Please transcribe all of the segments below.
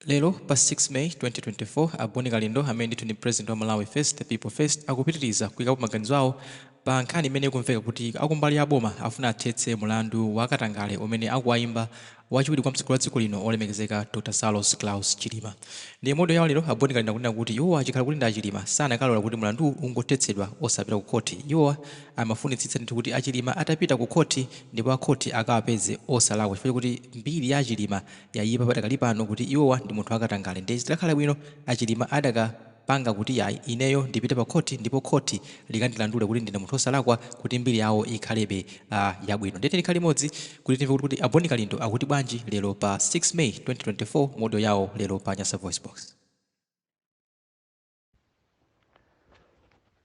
Lero pa 6 May 2024, a Boni Kalindo amene ndithu ndi President wa Malawi First the People First akupitiliza kuikapo maganizo awo pa nkhani imene ikumveka kuti akumbali ya boma afuna athetse mulandu wa katangale umene akuwayimba wachiwiri kwa mtsogoleri wa dziko lino olemekezeka Dr Saulos Klaus Chilima. Ndipo mu audio yawo lero, a Boni Kalindo akunena kuti iwo achikhala kuti ndi a Chilima sanakalola kuti mulanduwu ungothetsedwa osapita ku khoti. Iwowa amafunitsitsa ndithu kuti a Chilima atapita ku khoti ndipo a khoti akawapeze osalakwa chifukwa chokuti mbiri ya a Chilima yaipa padakali pano kuti iwowa ndi munthu wakatangale ndiye zidakhala bwino a Chilima adakapanga kuti yayi ineyo ndipite pa khoti ndipo khoti likandilandule kuti ndine munthu osalakwa kuti mbiri yawo ikhalebe yabwino ndiye tikhale limodzi kuti timve kuti a Boni Kalindo akuti bwanji lero pa 6 May 2024 mu audio yawo lero pa Nyasa Voice Box.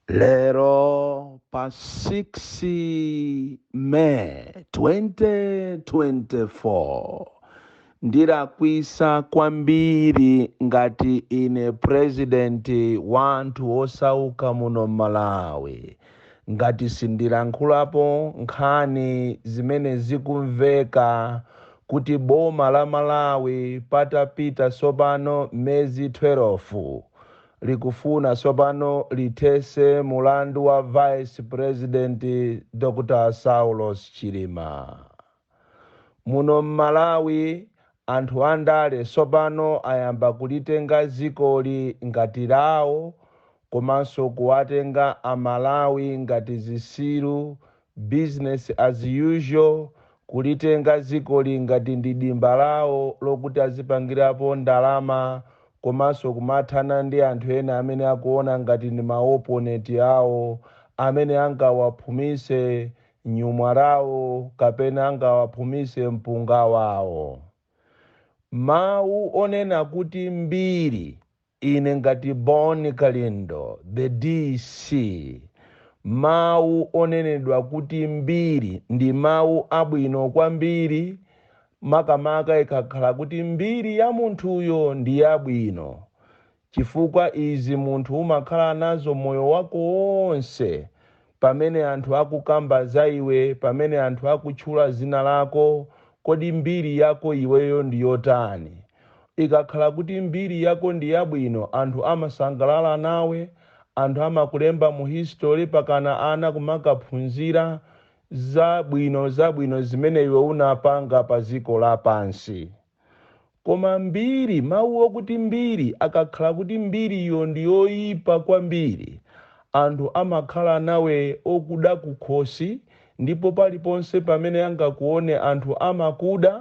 lero pa 6 may 2024 ndilakwisa kwambiri ngati ine president wa anthu osauka muno malawi ngati sindilankhulapo nkhani zimene zikumveka kuti boma la Malawi patapita sopano mezi thwelofu likufuna sopano lithese mulandu wa vice president Dr Saulos Chilima. Muno mmalawi anthu andale sopano ayamba kulitenga zikoli ngati lawo komanso kuwatenga amalawi ngati zisiru business as usual kulitenga zikoli ngati ndi dimba lawo lokuti azipangirapo ndalama komanso kumathana ndi anthu ena amene akuona ngati ndi ma opponent awo amene angawaphumise nyumwa lawo kapena angawaphumise mpunga wawo. Mawu onena kuti mbiri ine ngati Bon Kalindo the DC mawu onenedwa kuti mbiri ndi mawu abwino kwambiri makamaka ikakhala kuti mbiri ya munthuyo ndi yabwino Chifukwa izi munthu umakhala nazo moyo wako wonse, pamene anthu akukamba za iwe, pamene anthu akutchula zina lako, kodi mbiri yako iweyo ndi yotani? Ikakhala kuti mbiri yako ndi yabwino, anthu amasangalala nawe, anthu amakulemba mu history pakana ana kumakaphunzira za bwino za bwino zimene iwe unapanga pa dziko lapansi. Koma mbiri, mawu okuti mbiri, akakhala kuti mbiriyo ndi yoipa kwambiri, anthu amakhala nawe okuda kukhosi ndipo paliponse pamene angakuone anthu amakuda,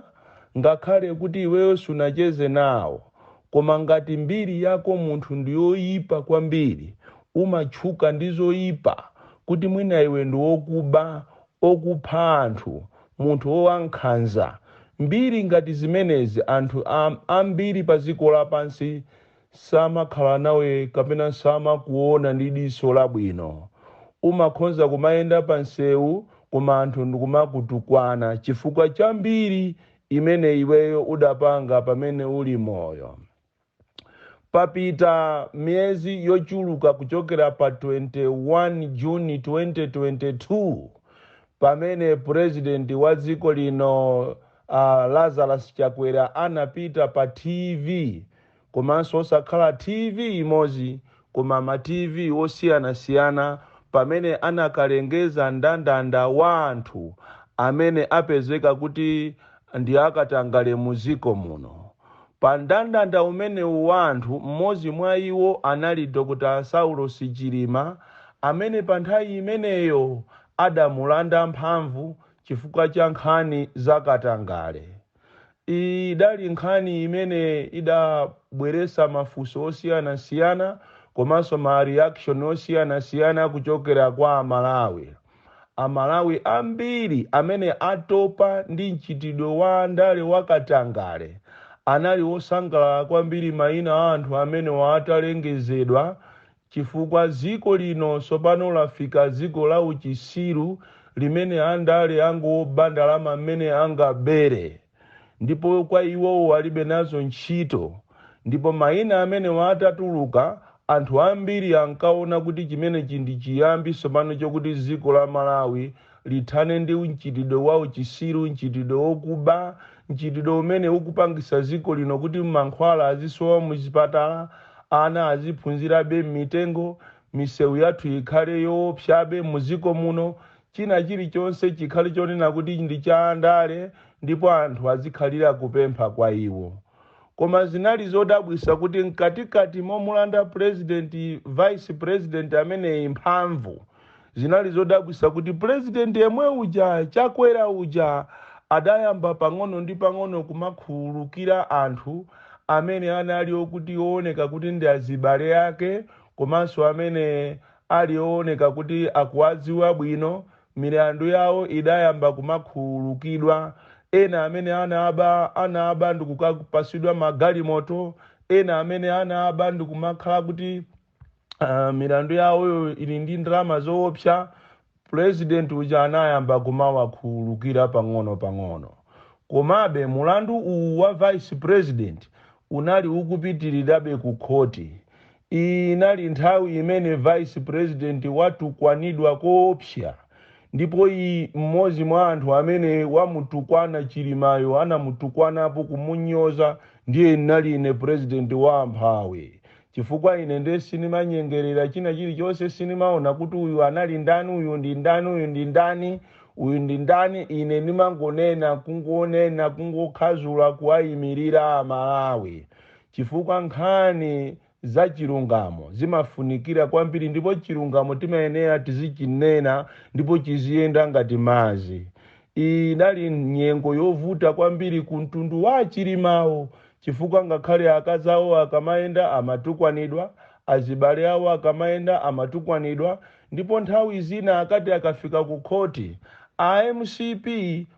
ngakhale kuti iweyo sunacheze nawo. Koma ngati mbiri yako munthu ndi yoipa kwambiri, umatchuka ndi zoipa, kuti mwina iwe ndi wokuba, okupha anthu, munthu wowankhanza, mbiri ngati zimenezi anthu ambiri paziko lapansi samakhala nawe kapena samakuona ndi diso labwino. Umakhonza kumayenda pa nsewu koma anthu ndikumakutukwana chifukwa cha mbiri imene iweyo udapanga pamene uli moyo. Papita miyezi yochuluka kuchokera pa 21 June 2022 pamene Purezidenti wa dziko lino Lazarus Chakwera anapita pa TV komanso osakhala TV imodzi Koma ma TV osiyanasiyana pamene anakalengeza ndandanda wa anthu amene apezeka kuti ndi akatangale mu dziko muno. Pa ndandanda umenewu wa anthu m'modzi mwa iwo anali Dr Saulos Chilima amene pa nthawi imeneyo adamulanda mphamvu chifukwa cha nkhani za katangale. Iyi idali nkhani imene idabweresa mafunso osiyanasiyana komanso ma reaction osiyanasiyana kuchokera kwa Amalawi. Amalawi ambiri amene atopa ndi mchitidwe wa andale wa katangale anali osangalala kwambiri maina a anthu amenewa atalengezedwa chifukwa ziko lino sopano lafika ziko la uchisiru limene andale angoba ndalama mmene angabere ndipo kwa iwowo alibe nazo ntchito ndipo maina amenewa atatuluka anthu ambiri ankaona kuti chimenechi ndi chiyambi sopano chokuti ziko la Malawi lithane ndi mchitidwe wa uchisiru, mchitidwe wokuba, mchitidwe umene ukupangisa dziko lino kuti mankhwala azisowa muzipatala, ana aziphunzirabe mmitengo, misewu yathu ikhale yoopsabe mudziko muno, china chilichonse chikhale chonena kuti ndi cha andale ndipo anthu azikhalira kupempha kwa iwo. Koma zinali zodabwisa kuti mkatikati momulanda president vice president ameneyi mphamvu, Zinali zodabwisa kuti president yemwe uja Chakwera uja adayamba pang'ono ndi pang'ono kumakhululukira anthu amene anali okuti ooneka kuti ndi azibale ake komanso amene ali ooneka kuti akuwadziwa bwino milandu yawo idayamba kumakhululukidwa ena amene anaba anaba ndikukapasidwa magalimoto ena amene anaba ndikumakhala kuti milandu yawoyo ili ndi ndalama zoopsa president uja anayamba kumawakhululukira pang'ono pang'ono komabe mulandu uwu wa vice president unali ukupitirirabe ku khoti inali nthawi imene vice president watukwanidwa koopsa ndipo mmodzi mwa anthu amene wamutukwana Chilimayo anamutukwanapo kumunyoza ndiye nali ine president wa amphawi Chifukwa, ine nde sinimanyengerera china chilichonse, sinimaona kuti uyu anali ndani, uyu ndi ndani, uyu ndi ndani, uyu ndi ndani, ine nimangonena, kungonena, kungokhazula, kuwayimirira Amalawi. Chifukwa nkhani za chilungamo zimafunikira kwambiri, ndipo chilungamo timayenera tizichinena ndipo chiziyenda ngati madzi. Inali nyengo yovuta kwambiri ku mtundu wa a Chilimawo chifukwa ngakhale akazi awo akamayenda amatukwanidwa, azibale awo akamayenda amatukwanidwa ndipo nthawi zina akati akafika ku khoti, a MCP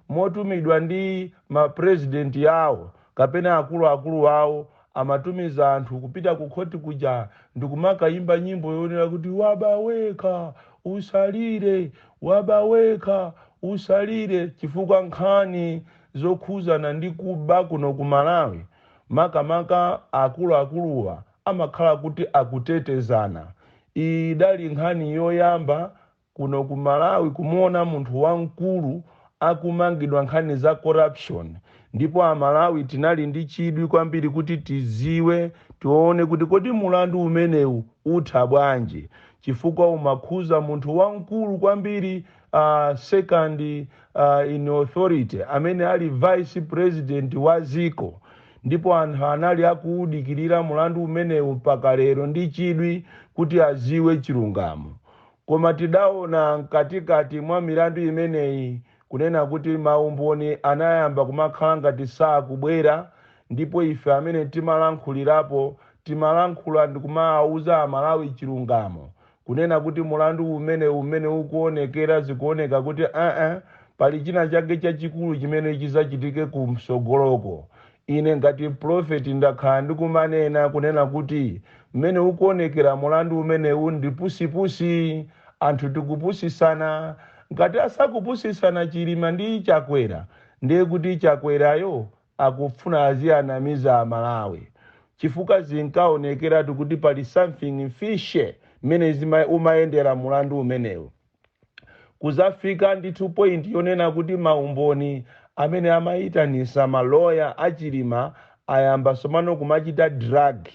motumidwa ndi ma president yawo Kapena akuluakulu awo amatumiza anthu kupita kukhoti kuja ndikumakayimba nyimbo yonena kuti waba wekha usalire, waba wekha usalire chifukwa nkhani zokhuzana ndi kuba kuno ku Malawi makamaka akuluakuluwa amakhala kuti akutetezana. Idali nkhani yoyamba Kuno ku Malawi kumuona munthu wamkulu akumangidwa nkhani za corruption ndipo a Malawi tinali ndi chidwi kwambiri kuti tiziwe, tione kuti kodi mulandu umenewu utha bwanji chifukwa umakhuza munthu wamkulu kwambiri second in authority amene ali vice president wa dziko ndipo anthu anali akuudikirira mulandu umenewu mpaka lero ndi chidwi kuti aziwe chilungamo. Koma tidaona mkatikati mwa milandu imeneyi kunena kuti maumboni anayamba kumakhala ngati sakubwera ndipo ife amene timalankhulirapo timalankhula ndikumaauza Amalawi chilungamo kunena kuti mulandu umenewu mmene ukuonekera zikuoneka kuti aa pali china chake chachikulu chimene chizachitike kumsogoloko Ine ngati mprofeti ndakhala ndikumanena, kunena kuti mmene ukuonekera mulandu umenewu ndi pusipusi, anthu tikupusitsana, ngati asakupusitsana Chilima ndi Chakwera ndiye kuti Chakwerayo akufuna azianamiza a Malawi chifukwa zinkaonekeratu kuti pali something fishy mmene umayendera mulandu umenewu. kuzafika ndithu point yonena kuti maumboni amene amayitanisa maloya a Chilima ayamba somano kumachita drag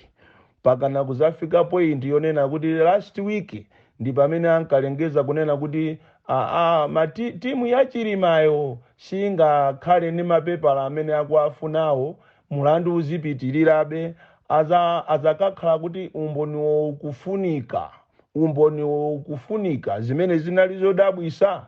pakana kuzafika point yonena kuti last week ndi pamene ankalengeza kunena kuti aa ma timu ya Chilimayo singakhale ndi mapepala amene akuwafunawo mulandu uzipitirirabe aza azakakhala kuti umboniwo ukufunika umboniwo ukufunika, zimene zinali zodabwisa?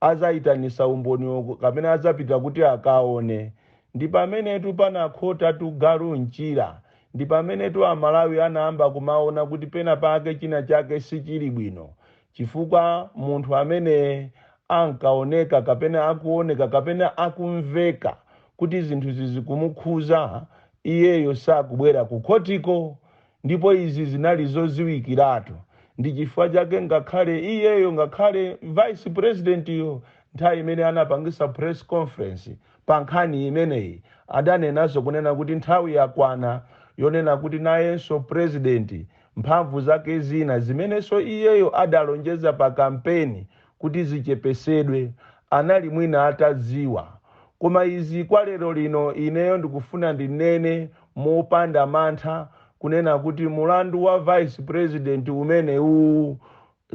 Azayitanisa umboniwo kapena azapita kuti akaone? Ndipamenetu panakhotatu galu mchira, ndipamenetu a Malawi anayamba kumaona kuti pena pake china chake sichili bwino, chifukwa munthu amene ankaoneka kapena akuoneka kapena akumveka kuti zinthuzi zikumukhuza iyeyo sakubwera kukhotiko Ndipo izi zinali zoziwikiratu, ndi chifukwa chake ngakhale iyeyo, ngakhale vice president yo, nthawi imene anapangisa press conference pa nkhani imeneyi, adanenaso kunena kuti nthawi yakwana yonena kuti nayenso president mphamvu zake zina zimenenso iyeyo adalonjeza pa kampeni kuti zichepesedwe, anali mwina atadziwa. Koma izi kwa lero lino ineyo ndikufuna ndinene mopanda mantha kunena kuti mulandu wa vice president umenewu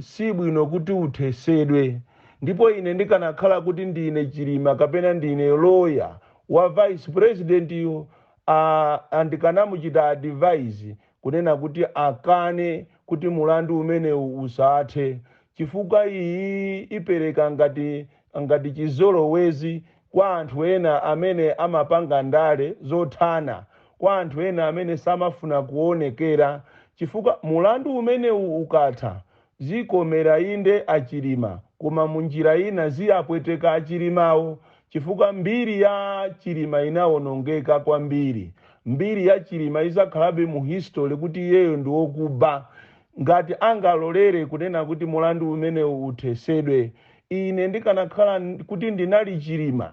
sibwino kuti uthesedwe. Ndipo ine ndikanakhala kuti ndine Chilima kapena ndine lawyer wa vice president yo aah ndikanamuchita advise kunena kuti akane kuti mulandu umenewu usathe chifukwa iyi ipereka ngati ngati chizolowezi kwa anthu ena amene amapanga ndale zothana kwa anthu ena amene samafuna kuonekera chifukwa mulandu umenewu ukatha zikomera inde a Chilima koma munjira ina ziapweteka a Chilimawo chifukwa mbiri ya Chilima inaonongeka kwambiri mbiri ya Chilima izakhalabe mu history kuti iyeyo ndi wokuba Ngati angalolere kunena kuti mulandu umenewu uthesedwe ine ndikanakhala kuti ndinali chilima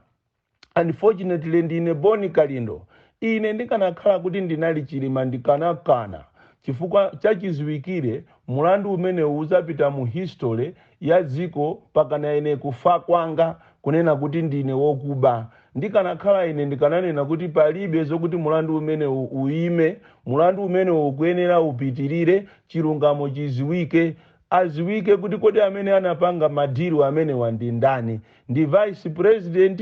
unfortunately ndine boni kalindo ine ndikanakhala kuti ndinali chilima ndikanakana chifukwa chachiziwikire mulandu umenewu uzapita mu history ya dziko pakana ine kufa kwanga kunena kuti ndine wokuba ndikanakhala ine ndikananena kuti palibe zokuti mulandu umenewu uime mulandu umenewu ukuyenera upitirire chilungamo chiziwike aziwike kuti kodi amene anapanga madilu amenewa ndi ndani ndi vice president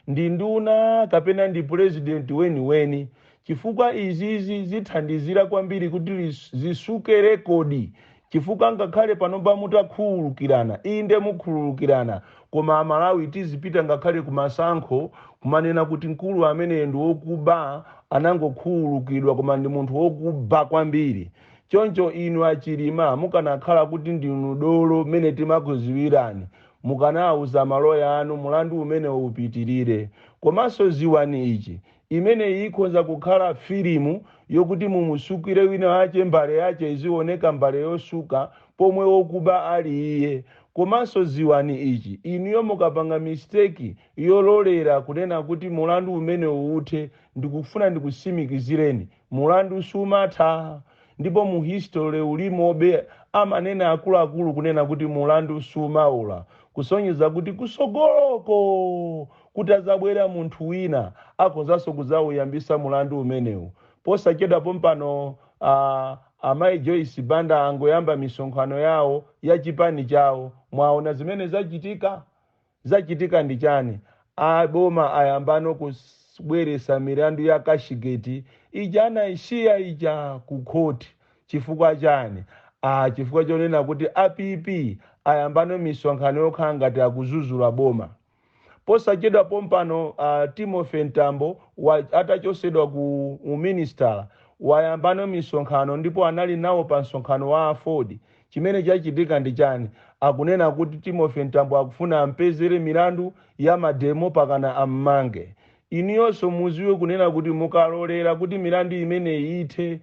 ndi nduna kapena ndi president weniweni chifukwa izizi zithandizira kwambiri kuti zisuke rekodi chifukwa ngakhale panopa mutakhululukirana inde mukhululukirana koma amalawi tizipita ngakhale kumasankho kumanena kuti mkulu ameneyo ndi wokuba anangokhululukidwa koma ndi munthu wokuba kwambiri choncho inu achilima mukanakhala kuti ndinu dolo mmene timakuziwirani mukanawuza maloya anu mulandu umenewo upitirire komanso ziwani ichi Imeneyi ikhonza kukhala filimu yokuti mumusukire wina wache mbale yache izioneka mbale yosuka pomwe wokuba ali iye. Komanso ziwani ichi, inuyo mukapanga mistake yololera kunena kuti mulandu umenewu uthe, ndikufuna ndikusimikizireni Mulandu sumatha ndipo mu history ulimobe amanena akuluakulu kunena kuti mulandu sumawola kusonyeza kuti kusogoloko kutazabwera munthu wina akhozaso kuzawuyambisa mulandu umenewu posachedwa pompano amayi Joyce Banda angoyamba misonkhano yawo ya chipani chawo mwawona zimene zachitika Zachitika ndi chani? A boma ayambano kubweresa milandu ya cashgate ija anaisiya ija ku court chifukwa chani? Chifukwa chonena kuti a PP ayambano misonkhano yokhala ngati akuzuzula boma. Posachedwa pompano Timothy Mtambo atachosedwa ku uministala wayambano misonkhano ndipo anali nawo pa msonkhano wa aford Chimene chachitika ndi chani? Akunena kuti Timothy Mtambo akufuna ampezere milandu ya mademo pakana ammange. Inuyonso muziwe kunena kuti mukalolera kuti milandu imeneyi ithe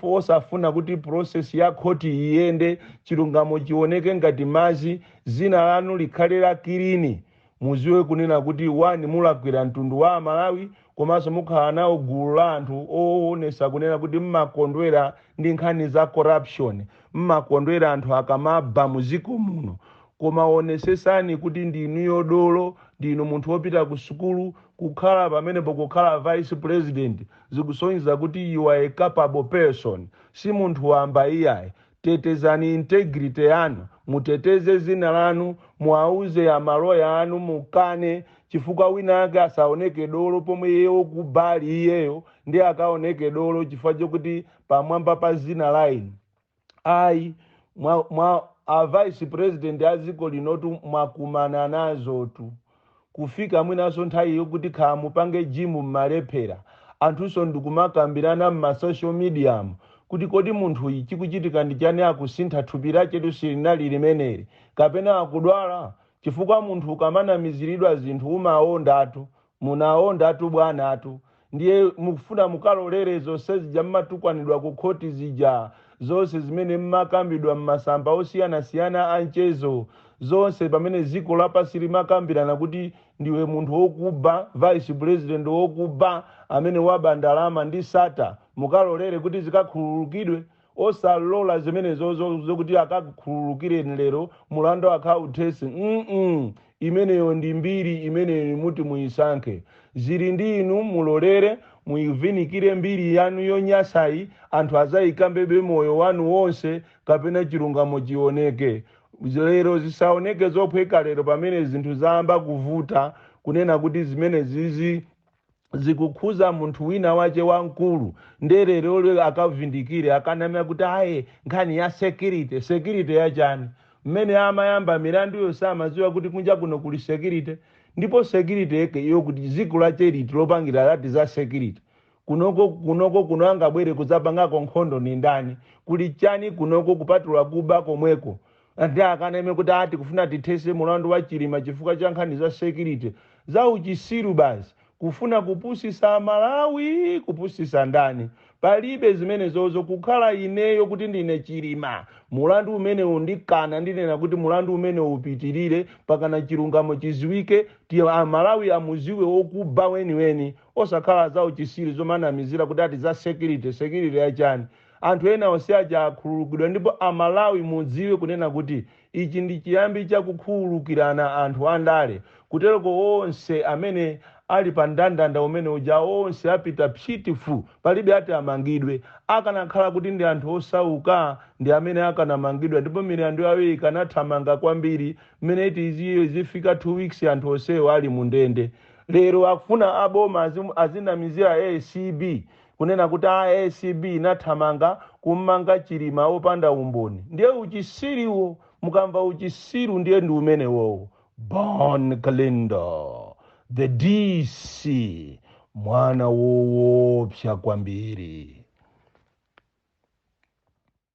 osafuna kuti process ya court iyende chilungamo chioneke ngati mazi, zina lanu likhale la kilini. Muziwe kunena kuti one mulakwira mtundu wa amalawi komanso mukhala nawo mgulu la anthu owonesa kunena kuti mmakondwera ndi nkhani za corruption, mmakondwera anthu akamaba mu dziko muno. Koma wonesesani kuti ndinuyo dolo, ndinu munthu wopita ku sukulu, kukhala pamenepo kukhala vice president zikusonyeza kuti you are a capable person. Si munthu wamba iyayi. Tetezani integrity yanu, muteteze zina lanu, muwauze a maloya anu mukane chifukwa wina ake asaoneke dolo pomwe iye okuba ali iyeyo ndiye akaoneke dolo chifukwa chokuti pamwamba pa zina la inu ayi mwa, mwa a vice president a dziko linotu mwakumana nazotu kufika mwinanso nthawi yokuti khala mupange gym mmalephera, anthunso ndikumakambirana mma social mediamu kuti kodi munthuyi chikuchitika ndi chani akusintha thupi lachetu silinali limeneli, kapena akudwala? chifukwa munthu ukamanamiziridwa zinthu umaondatu, munaondatu bwanatu, ndiye mukufuna mukalolere zonse zija mmatukwanidwa ku khoti zija zonse zimene mmakambidwa mmasamba osiyanasiyana a mchezo zonse pamene dziko lapansi limakambirana kuti ndiwe munthu wokuba vice president wokuba amene waba ndalama ndi Sattar mukalolere kuti zikakhululukidwe osalola zimenezo zokuti akakukhululukireni lero mulandu akauthese mm imeneyo ndi mbiri imeneyo muti muyisankhe zili ndi inu mulolere muyivinikire mbiri yanu yonyasayi anthu aziyikambabe moyo wanu wonse kapena chilungamo chioneke lero zisaoneke zophweka lero pamene zinthu zayamba kuvuta kunena kuti zimene zizi zikukhuza munthu wina wache wamkulu nde leroli akavindikire akaname kuti aye nkhani ya security security yachani mmene amayamba milanduyo samaziwa kuti kunja kuno kuli security ndipo security yake iyo kuti ziko lake liti lopangira lati za security kunoko kuno angabwere kudzapangako nkhondo ni ndani kuli chani kunoko kupatula kuba komweko Anthu akaname kuti aa tikufuna tithese mulandu wa Chilima chifukwa cha nkhani za security. Za uchisiru basi. Kufuna kupusisa a Malawi kupusisa ndani. Palibe zimenezozo kukhala ineyo kuti ndine Chilima mulandu umenewu ndikana ndinena kuti mulandu umenewu upitilire pakana chilungamo chiziwike kuti a Malawi amuziwe okuba weniweni osakhala za uchisiru zomanamizira kuti ati za security. Security ya chani? Anthu ena onse aja akhululukidwa ndipo a Malawi mudziwe kunena kuti ichi ndi chiyambi cha kukhululukirana anthu a ndale kutereko onse amene Ali pa ndandanda umene uja onse apita psiti fu palibe ati amangidwe. Akanakhala kuti ndi anthu osauka ndi amene akanamangidwa ndipo milandu yawo ikanathamanga kwambiri mmene iti zifika 2 weeks anthu onsewo Ali mu ndende. Lero akufuna a boma azinamizira acb kunena kuti a acb inathamanga kummanga chilima opanda umboni ndiye uchisiriwo mukamva uchisiru ndiye ndi umenewowo bon kalindo the dc mwana woopsa kwambiri